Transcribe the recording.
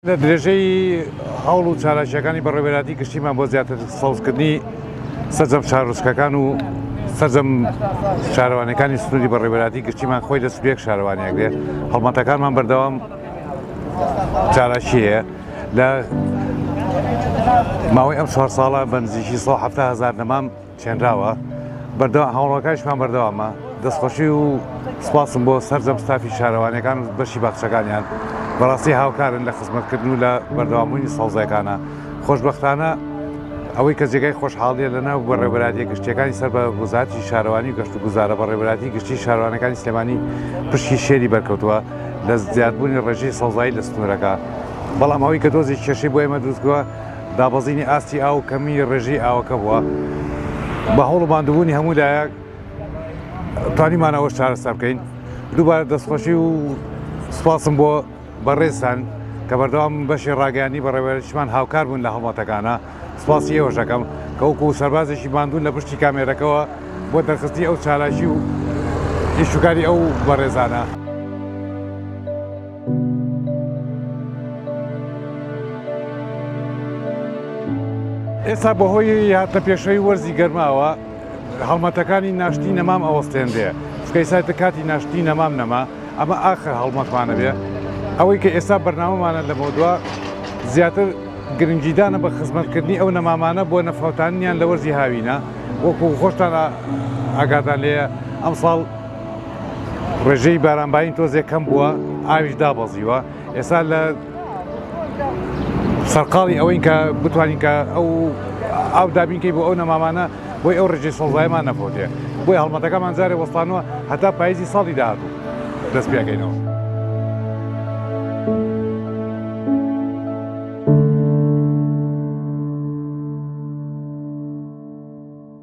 لە درێژەی هەوڵ و چالاکییەکانی بەڕێوەبەرایەتی گشتیمان بۆ زیاتر سەوزکردنی سەرجەم شارۆچکەکان و سەرجەم شارەوانیەکانی سنووری بەڕێوەبەرایەتی گشتیمان خۆی لە سبێک شارەوانیان گرێ هەڵمەتەکانمان بەردەوام چالاکی هەیە لە ماوەی ئەم چوار ساڵە بەنزیکی 170 هزار نەمام چێنراوە بەردەوام هەوڵەکانیشمان بەردەوامە دەستخۆشی و سپاسم بۆ سەرجەم ستافی شارەوانیەکان و بەشی باخچەکانیان بەڕاستی هاوکارن لە خزمەتکردن و لە بەردەوامبوونی سەوزەکانە خۆشببختانە ئەوەی کە جێگای خۆشحاڵیە لە ناو بەڕێبەرادیە گشتیەکانی سەر بە وزاتی شارەوانی و گەشت و گوزارە بەڕێبەراتی گشتی شارەوانەکانی سلێمانی پشکی شێری بەرکەوتووە لە زیادبوونی ڕێژەی سەوزایی لە سنوورەکە بەڵام ئەوەی کە دۆزی کێشەی بۆ ئێمە دروستگووە دابەزینی ئاستی ئاو و کەمی ڕێژەی ئاوەکە بووە، بە هەوڵ و ماندووبوونی هەموو لایەک توانیمان ئەوەش چارەسەر بکەین. دووبارە دەستخۆشی و سوپاسم بۆ بەڕێزتان کە بەردەوام بەشی ڕاگەیاندنی بەڕێوەبەرایەتیشمان هاوکار بوون لە هەڵمەتەکانا، سوپاسی ئێوەش دەکەم کە وەکوو سەربازێکی ماندوو لە پشتی کامێرەکەوە بۆ دەرخستنی ئەو چالاکی و ئیش و کاری ئەو بەڕێزانە. ئێستا بەهۆی هاتنە پێشەوەی وەرزی گەرماوە هەڵمەتەکانی ناشتی نەمام ئەوەستێنرێ سکەیسایتە کاتی ناشتی نەمام نەما ئەمە ئاخر هەڵمەتمانە بێ ئەوەی کە ئێستا بەرنامەمانە لە مەودوا زیاتر گرنگیدانە بە خزمەتکردنی ئەو نەمامانە بۆ نەفەوتانیان لە وەرزی هاوینە وەکو خۆشتان ئاگادان لێە ئەمساڵ ڕێژەی بارانبارین تۆزێک کەم بووە ئاویش دابەزیوە ئێستا لە سەرقاڵی ئەوەین کە بتوانین کە ئەو ئاو دابینکەی بۆ ئەو نەمامانە بۆی ئەو ڕێژەی سەڵزایمان نەفۆتێ بۆی هەڵمەتەکەمان جارێ وەستانەوە هەتا پاییزی ساڵی داهاتوو دەست پێکەینەوە.